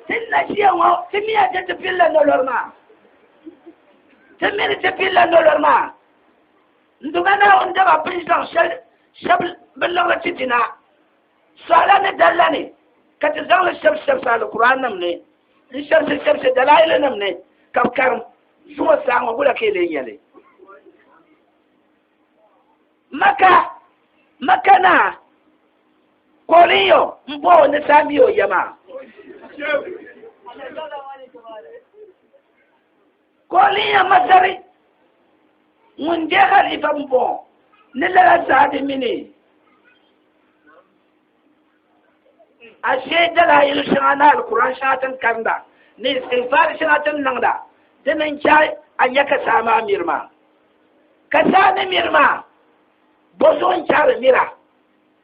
Ti ni na ʒiya ŋɔ, ti miya ti ti pilila nolori maa. Ti mi ni ti pilila nolori maa. N Duuma Naawuni daba bi ni zaŋ shɛli shɛbi bi liɣiri ti dina, suɣala ni dalila ni, ka ti zaŋ li shɛbisi shɛbisi Alkur'aannim ni, n-shɛbisi shɛbisi dalailinnim ni, ka bi karim zuŋɔ saa ŋɔ, wula ka yi lee nya li? Maka, Maka naa, koolin yo m-bo o ni saha mi o ya maa. Koolin ya Masari ŋun je halifa m-bo ni lala saha di mini. ashe dalaayili shɛŋa ni alikuran shɛŋa tin karinda ni istighfar shɛŋa tin niŋda di ni n chɛ a nya ka saa maa miri maa ka saa ni miri maa bo zuɣu n chɛ di mira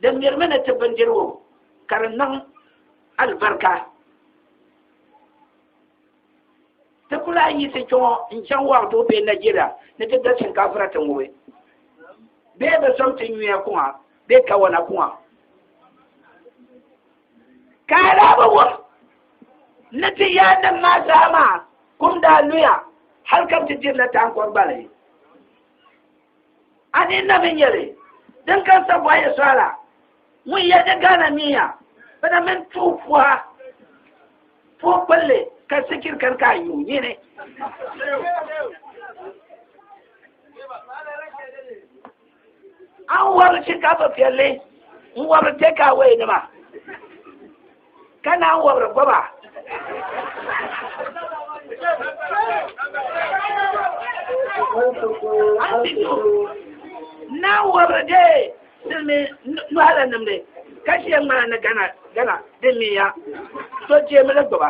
di mirimi ni ti bindirigu ka di niŋ alibarika ti ku lahi yiɣisi kpɛ ŋɔ n chaŋ wɔɣu tuhi bee Nigeria ni ti da shinkafira ti ŋubi bee bi sɔŋ ti nyuya kuŋa bee kawana kuŋa ka a daa bi wum ni ti yaannim maa zaa maa kum daa luya hali ka bi ti dirila taankɔr gbali A ni na mi nyɛli din kan Sabuwa Yɛsuwa la ŋun yɛn nyɛ Ghana miya bana mini tuhi puha puhi kpulli ka sikiri kani ka a yuui nyini. An wɔbiri shinkafa piɛlli n wɔbiri tɛkaawɛinima. ka naan wɔbiri gɔba naan wɔbiri de silimi nɔhala nimdi ka ʒiya ŋmana ni gana gana din mi ya so jeemi li gɔba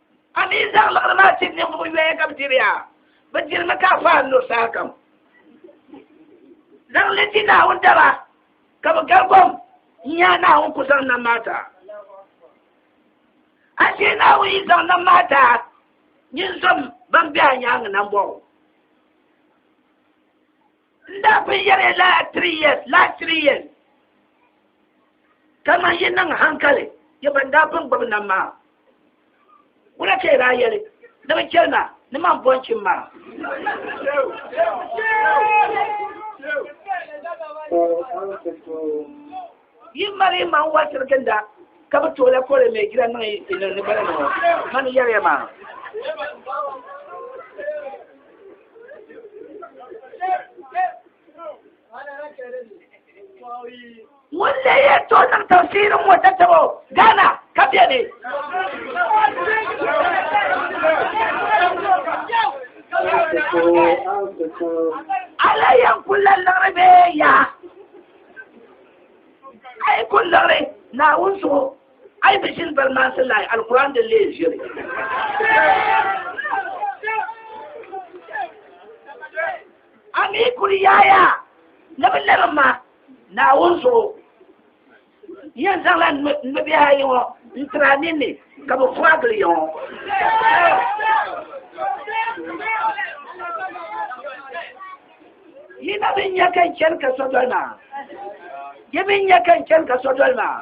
A ni yi zaŋ liɣiri maa tiri ninvuɣ yoya ka bɛ diri ya, bɛ dirimi ka a paai n-lo sahakam. Zaŋ li ti Naawuni daba, ka bɛ gal kom n-nyaai Naawuni ku zaŋ nam maa taa. Ashee Naawuni yi zaŋ nam maa taa, nyin zom bɛn be a nyaaŋa nambɔɣu. N daa pun yɛri ya lala three years, last three years. Kaman yi niŋ hankali ya ban daa pun gbibi nam maa, wula ka yi daa yɛli ni bɛ chɛli ma ni man bɔn chim maa? Ka o zaŋ ti tooi. Yi mali yi maŋ wali tiri ginda ka bi tooi la kɔre mɛ jira niŋ yi niŋ ni bala niŋɔ mani yɛliya maa. Ŋun leei ya to niŋ tafsiri ŋɔ tatabo Ghana ka bɛ ni. Ala yan kula liɣiri bee ya. a yi kuli liɣiri naawuni zuɣu a yi bi ʒini bari maansi lahi alikuran din lee ʒiri a mi kuli yaaya ni bi liɣiri ma naawuni zuɣu yɛn zaŋla nubihi ayi ŋɔ n tira ninni ka bi furagili yɛ ŋɔ yi na bi nya ka n chani ka so doli maa yi bi nya ka n chani ka so doli maa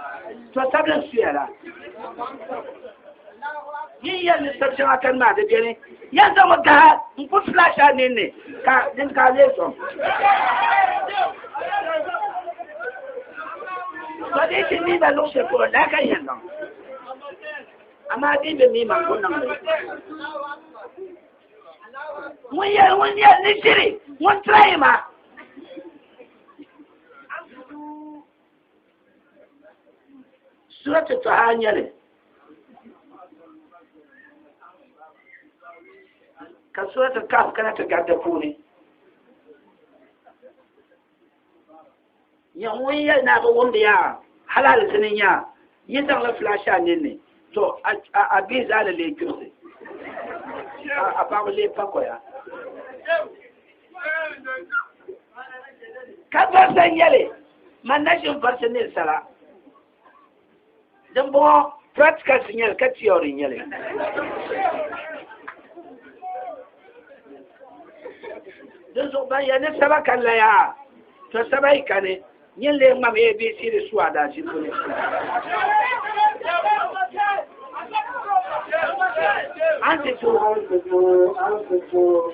to sabili n suya la yin yɛn ni sab shɛŋa kani maa di beni yɛn zaŋmi gaha n ku flash a ninni ka din ka lee sɔŋ ba dai shi ni ba lokacin ko da kan yan nan amma dai bai mi ma ko nan ŋun yɛ ŋun yɛ ni ʒiri ŋun tirayi maa surati tɔha nyɛli ka surati kaf kana ti gari di puuni Nyɛ ŋun yɛli ni a bi wumdi ya hali alizini nya, yi zaŋla filaasha a ninni, to a bia zaa ni lee kpibisi, ka a paɣaba lee pa koya. Ka varisi n-yɛli, Man nachimvarisi ninsala. din bɔŋɔ practicals nyɛli ka theory nyɛli din zuɣu ban yɛ ni saba ka laya to saba yi kani nyɛ lee ŋmam abc di su adaasi puni anti tu anti tu anti tu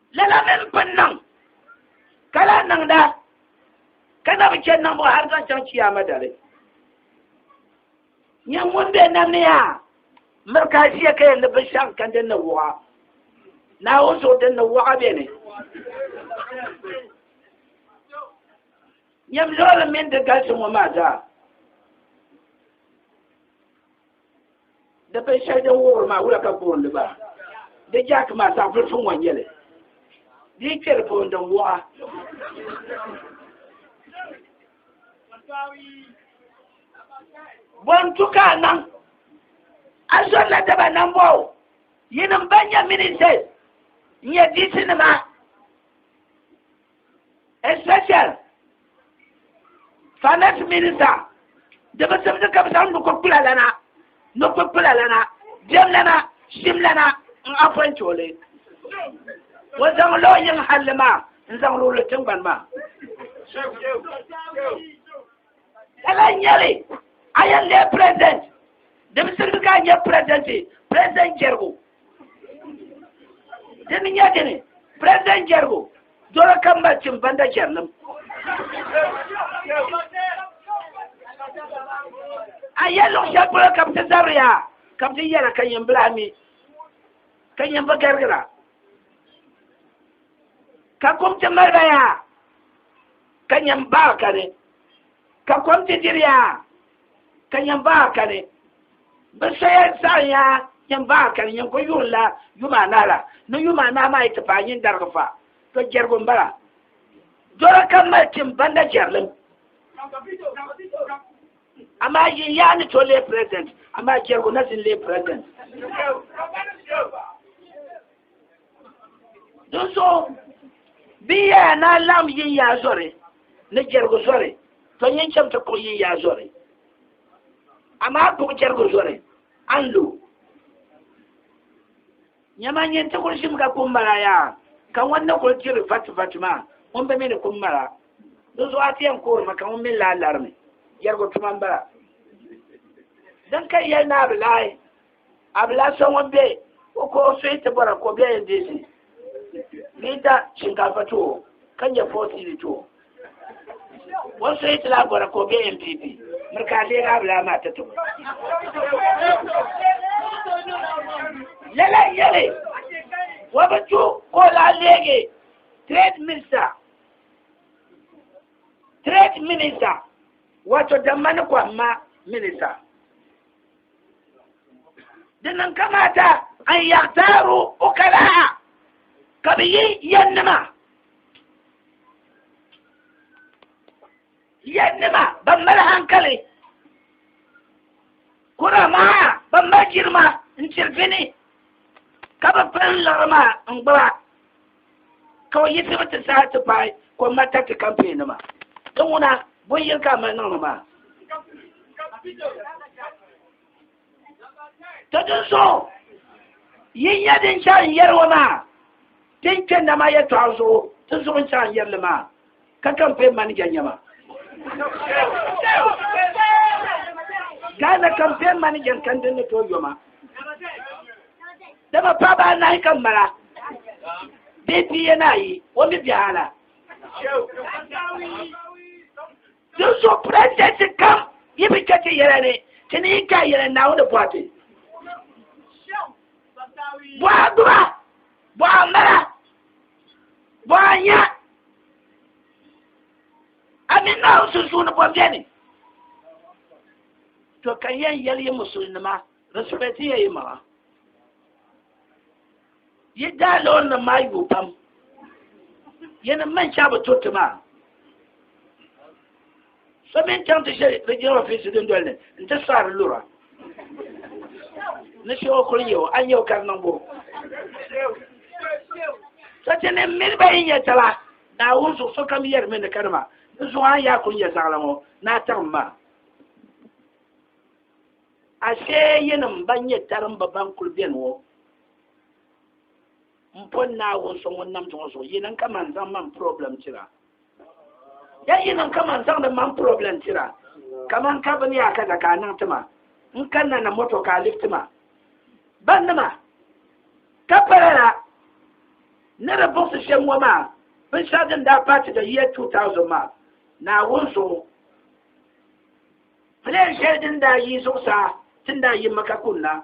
lala mini bin niŋ ka lahi niŋda ka na bi chɛ niŋbu hali zaŋ chaŋ chiyaama dali nyɛ ŋun bɛ nam ni yaa miri ka ʒiya ka yɛn ni bi shɛŋ ka din ni wuɣa naawuni zuɣu din ni wuɣa bɛ ni nyɛm loori mini di galisi ŋɔ maa zaa Di bin shɛli din wuhiri maa wula ka booni ba? Di jaaki maa saɣivulifu ŋɔ nyɛli. Di yi kpɛri booni din wɔɣa. Bontu ka a naŋ? A zɔri la daba naŋ bɔ o. Yinim ban nyɛ ministers n-nyɛ DC nima. especially finance minister da ba sabda ka ba no ko kula lana no ko kula lana dem lana shim lana in afan chole wa zan lo yin halima in zan lo tin ban ma ka la nyɛli a yɛn leei president di bi sirigi ka a nyɛ president president jɛrigu dini nyɛ dini president jɛrigu doro ka m mali tim banda jɛrilim a yɛ luɣ shɛli polo ka bi ti zabiri yaa ka bi ti yɛra ka yɛn bila mi ka yɛn bi garigira ka kum ti mali ba yaa ka nyɛm baa kani, ka kom ti diri ya, ka nyɛm baa kani. Bɛ soya zaɣim ya nyɛm baa kani, nyɛm ko yuɣin la yuma anahi la, ni yuma anahi maa yi ti paai nyin darigi fa, to jɛrigu m-bala. Dɔla kam mali tim banda jɛrilim. Amaa yin yaa ni to leei President, amaa jɛrigu na zini leei President. Dunso bɛ yaya na lam yin yaa zɔri ni jɛrigu zɔri to yin chɛm ti kuɣi yin yaa zɔri amaa kuɣi jɛrigu zɔri an lo nyɛma nyin ti kuli ʒim ka kum mala yaa ka ŋun ni kuli diri vati vati maa ŋun bɛ mi ni kum mala dunso a ti yɛn kuhirimi ka ŋun mi laa larimi jɛrigu tuma m-bala din ka yɛli naa bi laai Abila so ŋun be o ko o suhi ti bɔra ka o bɛ NDC liita shinkaafa tuo ka nyɛ foosiili tuo o suhi ti la bɔra ka o bɛ NPP miri ka a deegi abila maa ti tubu lala yɛli wa bi tu ka o lahi leegi trade minister trade minister wato damma ni kɔhimma minister dinnan kamata an yaɣtaaro o kalaa ka bi yi yɛnnima yɛnnima ban mali hankali kura maa ban mali jirima n tiri bini ka bi pili liɣiri maa n gbuba ka o yiɣisibu ti saha ti paai ka o mali tariti kampeen nima ti ŋuna bin yini ka a mali niŋdi maa to din so yi nyɛ din chɛ n yɛri o maa din kpɛnda maa yɛtɔɣa zuɣu ti zuɣu n chɛ n yɛri li maa ka campaign manager nyɛma Ghana campaign manager kan din ni tooi yoma dama paɣaba anahi ka mala bee pia ni ayi o mi biɛhi ala din so president kam yi bi chɛ ti yɛla ni ti ni yi ka yɛla naawuni bɔhati bɔha gbuba bɔha mala bɔnya ani nahu sunsuuni bɔbɛni to ka yɛn yɛli yi musulnima respect ya yi maŋa yi daa loori nim maa yuui pam yɛni man shɛba bi to ti maa so mini chaŋ ti ʒe di jina ofiisi dundoli ni n ti saari lura ni shehu kuli nyɛ o a nyɛ o ka di niŋ bo sati ni mini ba yi nyɛ tala naawuni zuɣu sokam yɛrimi ni kanima di zuɣu a yaa kuli nyɛ zaɣala ŋɔ ni a taɣim ma ashe yinim ban nyɛ tarimba ban kuli beni ŋɔ m pɔ naawuni so ŋun nam zuɣu zuɣu yini n ka man zaŋ man problem tira ya yi niŋ kaman zaŋdi man problem tira kaman ka bini yaa kaza ka a niŋ tima n kanna na moto ka a lifti ma bandima ka pala la ni di buɣisi shɛm ŋɔ maa binshɛɣu din daa paati da year 2000 maa naawuni zuɣu plan shɛli din daa yi zuɣusaa tin daa yi maka kunna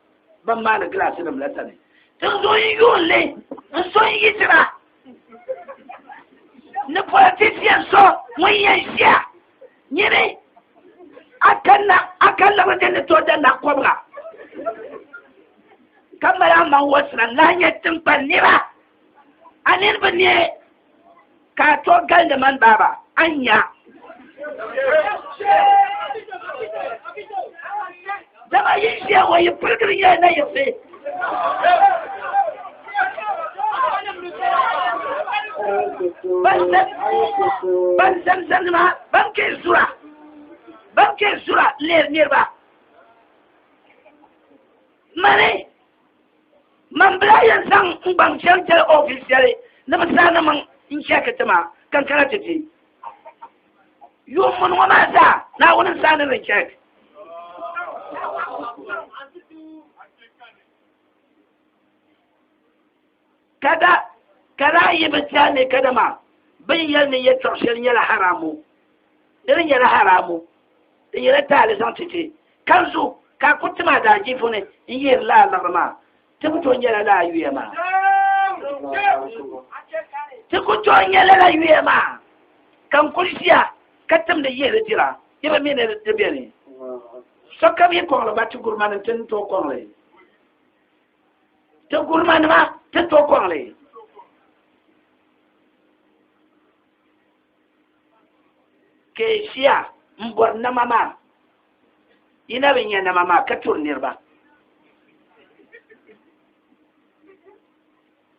ban maani gilaasi nim la sani tinzuɣu n yuun li n so n yitira ni politisian so ŋun yɛn ʒiya nyini a kan labi din ni tooi da naɣ kɔbiga ka mali a maŋ wɔsira n lahi nyɛ tinkpani nira a niriba ne ka a to galindi mani baaba a nya dama yi ʒiya ŋɔ yi pirigiri nyɛla na yiɣisi ban zamzam nima ban kɛ zura ban kɛ zura leeri niriba mani man bila yɛn zaŋ n gbaŋ shɛli jɛli oofis shɛli ni bi saani maŋ n chɛki ti ma ka n kana ti di yuun mun ŋɔ maa zaa naawuni n saani li chɛk Kada, ka daa yi bi ti a ni kadama bin yɛli ni yɛtɔɣ shɛli nyɛla haramu, di ni nyɛla haramu, di nyɛla taali zaŋ ti ti, ka di zuɣu ka a ku tim a daajiifu ni n-yihiri laa liɣiri maa, ti ku tooi nyɛla laa yuya maa. Ti ku tooi nyɛla la yuya maa, ka n kuli ʒiya ka timdi yihiri dira, yi bi mi ni di beni. Sokam yi kɔŋli ba ti guri ma ni ti ni tooi kɔŋli. ti gurima nima ti to kɔŋli ka yi ʒiya n bɔri nama maa yi na bi nya nama maa ka turi niriba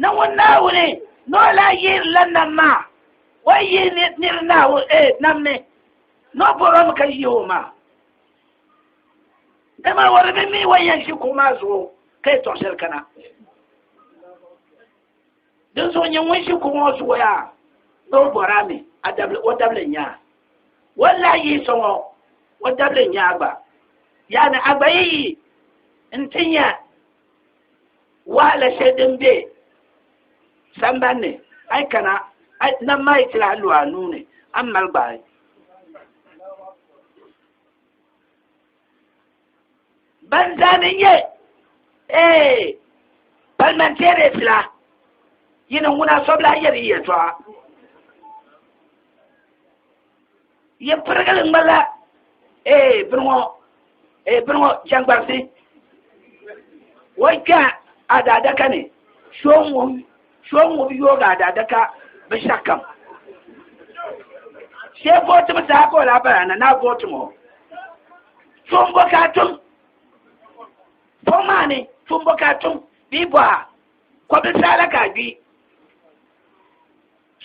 Na ŋun Naawuni ni o lahi yihiri la nam maa, o yi yihi ni niri Naawuni, ee, nam ni, ni o bɔri o mi ka yihi o maa. Dama o di mi mi o ni yɛn ʒi kuɣu maa zuɣu ka yi tɔɣi shɛli kana. Dinzuɣu nyini ŋun ʒi kuɣu ŋɔ zuɣu yaa, ni o bɔri a mi, a dabili, o dabili n-nyɛ a. O ni lahi yihi so ŋɔ, o dabili n-nyɛ a gba. Yaani, a gba yi yihi nti nya. wahala shɛli din bɛ sambani ni a yi kana nam maa yi tila a lu a nuu ni a ni mali gbaai ban zaani n nyɛ ee parliamentarians la yini ŋuna sobila yɛri yɛtɔɣa ya pirigili ŋmanila ee bini ŋɔ ee bini ŋɔ jɛŋgbarisi wai kpɛ a daadaka ni so n ŋub yoogi a daadaka binshɛɣu kam shee vootibu zaa ka o lahi bala na naa vooti ŋɔ fombo ka a tum fom maa ni fombo ka a tum bee bɔha kɔbili saala ka a gbi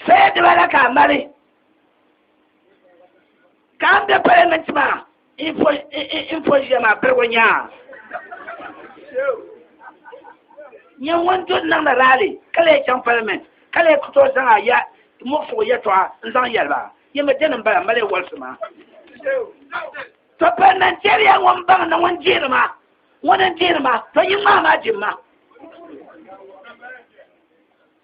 Sooja diba la ka a mali ka n be Parliament maa infɔʒiya maa pirigu nyaa nyɛ ŋun du niŋdi rally ka lee chaŋ Parliament ka lee ku tooi zaŋ a ya muɣisigu yɛtɔɣa n zaŋ yɛli ba yɛmi dini m-bala m-mali wɔlisi maa to parliamentariya ŋun baŋ ni ŋun dihiri ma ŋun n dihiri ma to yi ŋmaa maa jim ma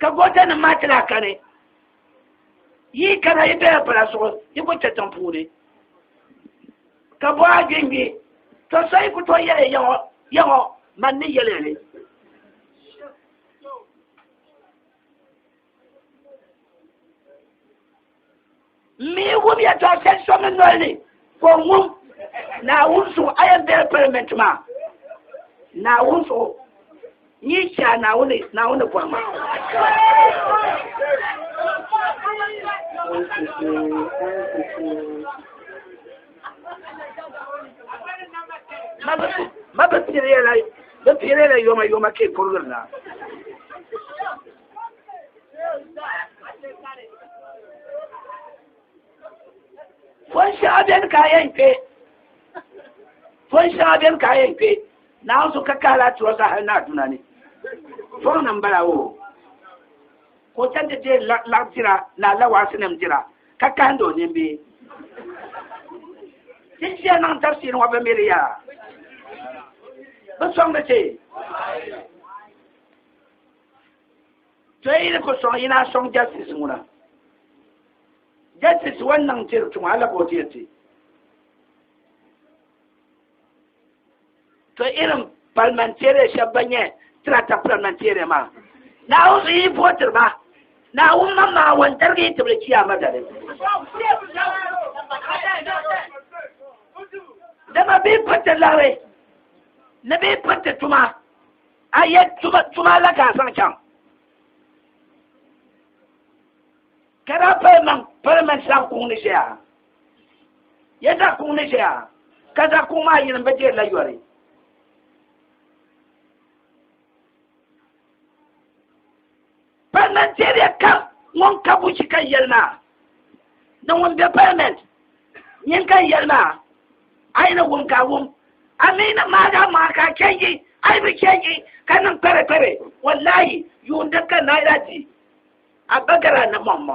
ka goota nim maa ti lahi kani yi kana yi bela pala zuɣu yi ku kpɛ tiŋ puuni ka bɔha gbingbi to so yi ku to yɛli yaŋɔ yaŋɔ man ni yɛli ni mi wum yɛtɔɣ shɛli so mi noli ni ka o ŋum Naawuni zuɣu a yɛn bela palimɛnti maa Naawuni zuɣu n-yi chɛ a Naawuni Naawuni bɔri ma ma bi piiri yɛla bi piiri yɛla yoma yoma ka yi kurigiri na fon shɛŋa beni ka a yɛn kpe fon shɛŋa beni ka a yɛn kpe naawuni so ka kahi la tuwa zaa hali ni a duna ni fon nim bala o ka o chɛnti deei laɣ dira ni alawaasi nim dira ka kahindi o nimbi ti ʒiya niŋ tafsir ŋɔ bi miri ya bi sɔŋdi ti to yi ni ku sɔŋ yi naa sɔŋ jɛstis ŋuna jɛstis wan niŋ tiri tuma ala ka o ti ti to irin parliamentarian shɛba ban nyɛ tirata parliamentarian maa naawuni yi vootiri ba naawuni ma maa wan darigi yi tibili chiyaama dali dama bɛ yi piriti laɣiri ni bɛ yi piriti tuma A yɛ tuma la ka a zaŋ chaŋ ka daa pali maŋ palimɛnti zaɣ kuŋ ni ʒɛya yɛ zaɣ kuŋ ni ʒɛya ka zaɣ kuŋ maa yini bi deeri la yɔri Parliamentarian kam ŋun ka buchi ka yɛli maa ni ŋun be Parliament nyin ka yɛli maa a yi ni wum ka a wum a mi ni maa daa maa ka a change a yi bi change ka niŋ kpɛre kpɛre wallahi yuundi ka naira di a bagara ni mɔmmɔ.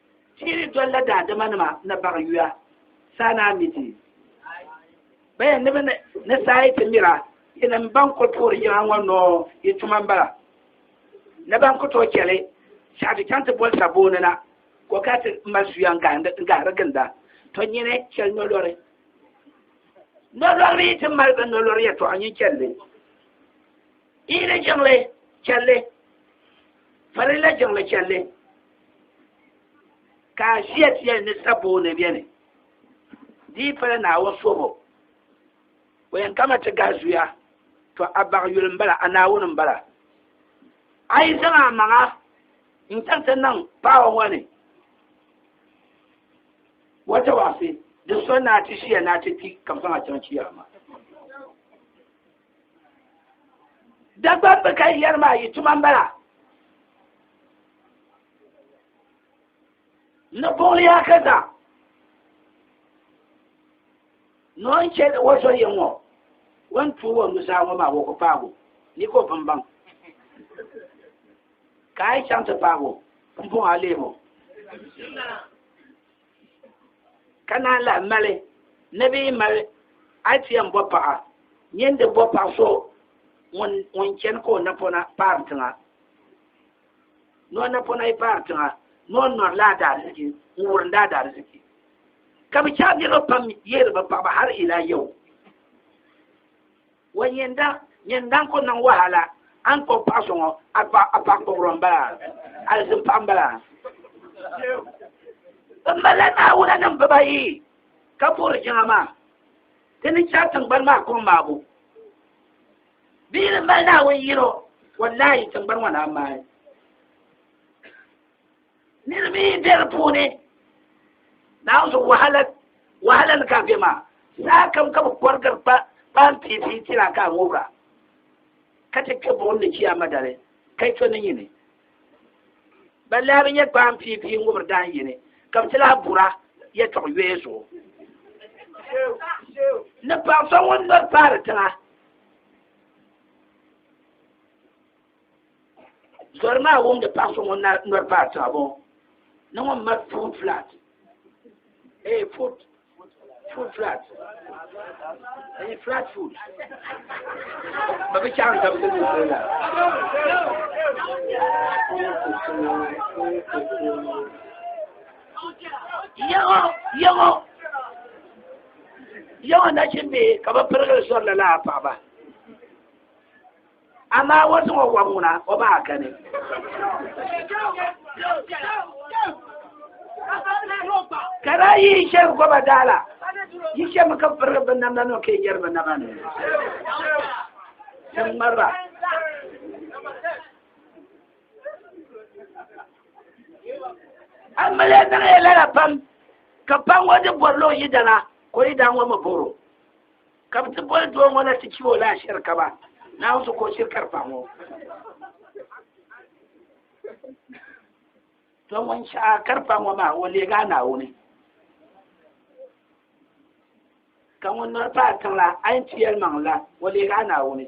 Tiri dolila daadama nima ni baɣi yuya saa ni a mi ti baya ni bɛ ni saa yi ti mira yinim ban kuli puhiri yiŋa ŋɔ noo yi tuma m-bala ni ban ku tooi chɛli shɛɣu ti chaŋ ti boli sabooni na ka o kana ti mali suya n-gahiri ginda to nyini chɛli nolɔri nolɔri yi ti mali bɛ nolɔri yɛtɔɣa nyin chɛlli yi ni jiŋli chɛlli farilla jiŋli chɛlli ka a ʒiya tiyali ni saboo ni bɛni di yi pala naawuni sobo o yɛn kama ti gahi zuya to a baɣa yuli m-bala a naawuni m-bala a yi zaŋ a maŋa n-chaŋ ti niŋ paɣa ŋɔ ni wata waɣisi di so ni a ti ʒiya ni a ti kpi ka bɛ zaŋ a chaŋ kiyama Dagban bi ka yɛri maa yi tuma m-bala. Ni buɣili ya ka zaŋ. Ni o ni chɛ o zo yiŋ ŋɔ, o ni tuui o nuzaa ŋɔ maa o ku paag o, ni ka o pun baŋ. Ka a yi chaŋ ti paag o, m-buɣ a leeg o. ka naan lahi mali ni bɛ yi mali ITM bɔ paɣa nyini di bɔ paɣa so ŋun chani ka o napɔna paari tiŋa ni o napɔna yi paari tiŋa ni o nɔrila a daaliziki n wurinda a daaliziki ka bi chɛri niriba pam yihiri bi paɣaba hali ila yau wa nyɛ n daŋ nyɛ n daŋ ko niŋ wahala a ni kpuɣi paɣa so ŋɔ a paɣa a paɣa kpuɣiro n bala alizin paɣa n bala n bala naawuna nim bibayi ka puhiri jiŋa maa ti ni chɛ tingbani maa kom maabu bia ni mali naawuni yino wallahi tingbani ŋɔ na maai niriba yi be di puuni naanzu wahala wahala ni ka be maa saa kam ka bi kɔrigiri pa paanpiipi ti na ka a ŋubira ka ti kpe buɣim ni chiya madali ka yi to ni nyini ban lahi bi nyɛ paanpiipi ŋubiri daan yini ka bi ti lahi bura yɛtɔɣ yɔya zuɣu ni paɣa so ŋun nɔri paari tiŋa Zɔri maa wumdi paɣ so ŋun nɔri paai tiŋa bɔŋɔ ni ŋun mali food flat ee eh, food food flat ee eh, flat food ba bi chaŋ tam di la yaŋɔ yaŋɔ yaŋɔ nachimbi ka bi pirigili sɔri la laa paɣaba Amaa o zaŋ o wɔb ŋuna o ba Akani. Ka daa yi yi shɛli gɔba daala, yi shɛmi ka pirigi bi namda nima ka yi yɛri bi naba ni. Tim ŋmariba. An mali niŋ ya lala pam, ka pam ŋɔ di bɔrilo yi dana, ka o yi daa ŋɔ mi bɔro. ka bɛ ti boli doo ŋɔ la ti chɛ o la ashiri ka ba Naawuni so ka o shiri ka di pahi ŋɔ to ŋun shɛha ka di pahi ŋɔ maa o leegi a Naawuni ka ŋun nɔri paai tiŋ la a yɛn ti yɛlimaŋ la o leegi a Naawuni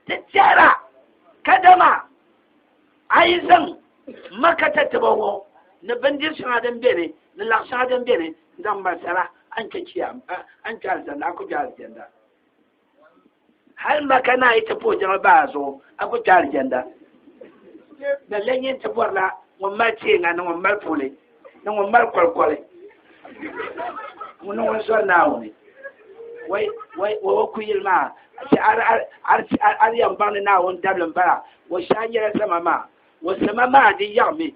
ti tɛhira kadama A yi zaŋ Maka tatabo ŋɔ ni bindiri shɛŋa din beni ni laɣ shɛŋa din beni n-zaŋ mali sala, a ni kpe chiya, a ni kpe alizanda, a ku kpe alizanda. Hal Maka naa yi ti puhi jɛma bahi a zuɣu, a ku kpe alizanda. Lala n-nyɛ nti bɔrila ŋun mali teeŋa ni ŋun mali puhili. ni ŋun mali kolikoli ŋuni ŋun sɔri naawuni wa ku yili maa ti ari yɛn baŋ ni naawuni dabili m-bala wa shɛha nyɛla zama maa wa zama maa di yaɣimi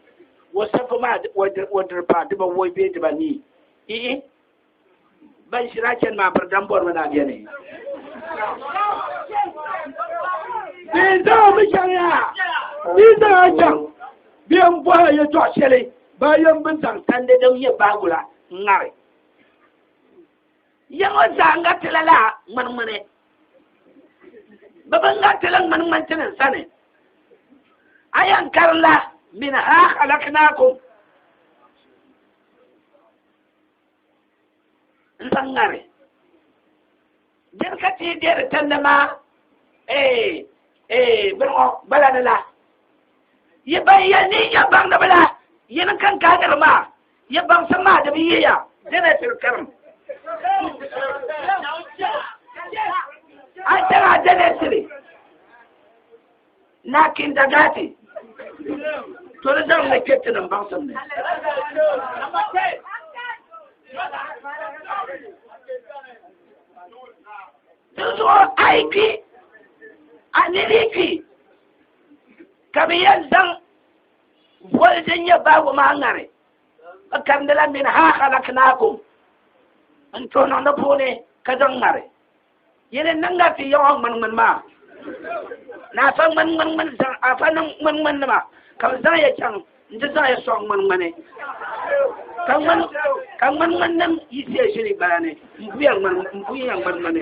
wa safu maa wa diri paa diba wɔi bee diba nii ii ban ʒiri a chɛni maa piridam bɔrimi ni a bɛni bɛ zaŋmi chɛŋya bɛ zaŋa chɛŋ bɛ n bɔhi yɛtɔɣ shɛli ba yɛn bi zaŋ tandi din nyɛ baagula ŋari yɛŋɔ zaa ŋa tila la ŋmanŋmani bɛ bi ŋa tila ŋmanŋmani ti ni sani a yɛn karila min ha halaknaakum n zaŋ ŋari din ka ti bɛ di tandi maa ee ee bini ŋɔ gbala ni la yi ban yɛli ni yi nyɛ baŋdiba la yi ni kan kaai niri maa yi baŋsim maa di bi yi ya dina tiri karim a tɛra dina tiri na kinda gaati to di zaŋ ni kpɛ tinim baŋsim ni di zuɣu a yi kpi a ni bi kpi ka bi yɛn zaŋ boli din nyɛ baabu maa ŋari bi karindila min ha halaknaakum n tooni niŋdi puuni ka zaŋ ŋari yili niŋ la ti yawa ŋmani ŋmani maa ni afa ŋmani ŋmani ŋmani zaŋ afa niŋ ŋmani ŋmani nima ka bi zaŋ ya chaŋ n ti zaŋ ya sɔŋ ŋmani ŋmani ka ŋmani ka ŋmani ŋmani nim yi ʒe ʒili gbaya ni n buya ŋmani n buya ŋmani ŋmani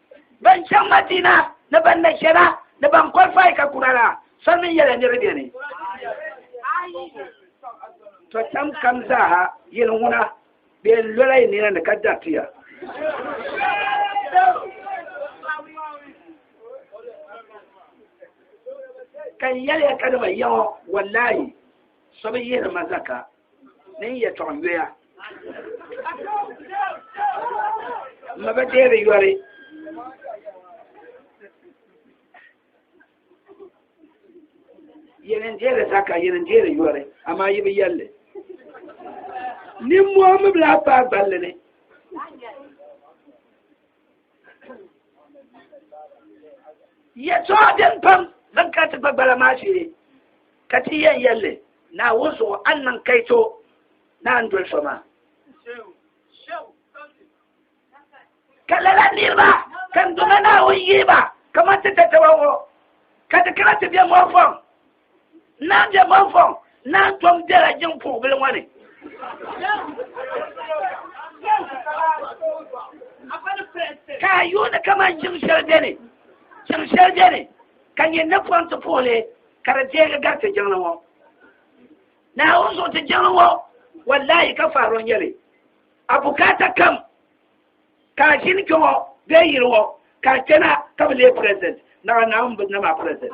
ban chaŋ Madina ni ban na chana ni ban qualify ka Kurana soli mini yɛla ni di beni. To tam kam zaaha yili ŋuna bɛ yɛn lola yi nina ni ka dariti ya. Ka n yɛliya ka dama yaŋɔ wallahi so bi yihiri ma zaka. ni n yɛtɔɣ yoya. M ma ba deeri yɔri. Yɛli n-deeri zaka, yɛli n-deeri yɔri, amaa yi bi yɛlli. Nimmɔhi mi bi lahi paai gballi ni. yɛtɔɣa din pam zaŋ kana ti gbagbala maa shee ka ti yɛn yɛlli naawuni zuɣu a ni niŋ kaito ni a ni doli so maa ka lala niriba ka n dɔna naawuni yihiba kamani ti tataba ŋɔ ka ti kana ti bɛ ŋɔ fɔŋ Naa bɛ bɔnfɔŋ, naa tom bɛla jiŋ puhibili ŋɔ ni. Ka a yuuni kamani jiŋ shɛli bɛ ni, jiŋ shɛli bɛ ni ka nyɛ napɔŋ ti puhi li ka di deegi gari ti jiŋli ŋɔ. Naawuni zuɣu ti jiŋli ŋɔ, wallahi ka faaro n-nyɛ li. A bukaata kam ka a ʒini kpe ŋɔ bee yili ŋɔ ka a chana ka bi leei president naɣa naawuni bi na maa president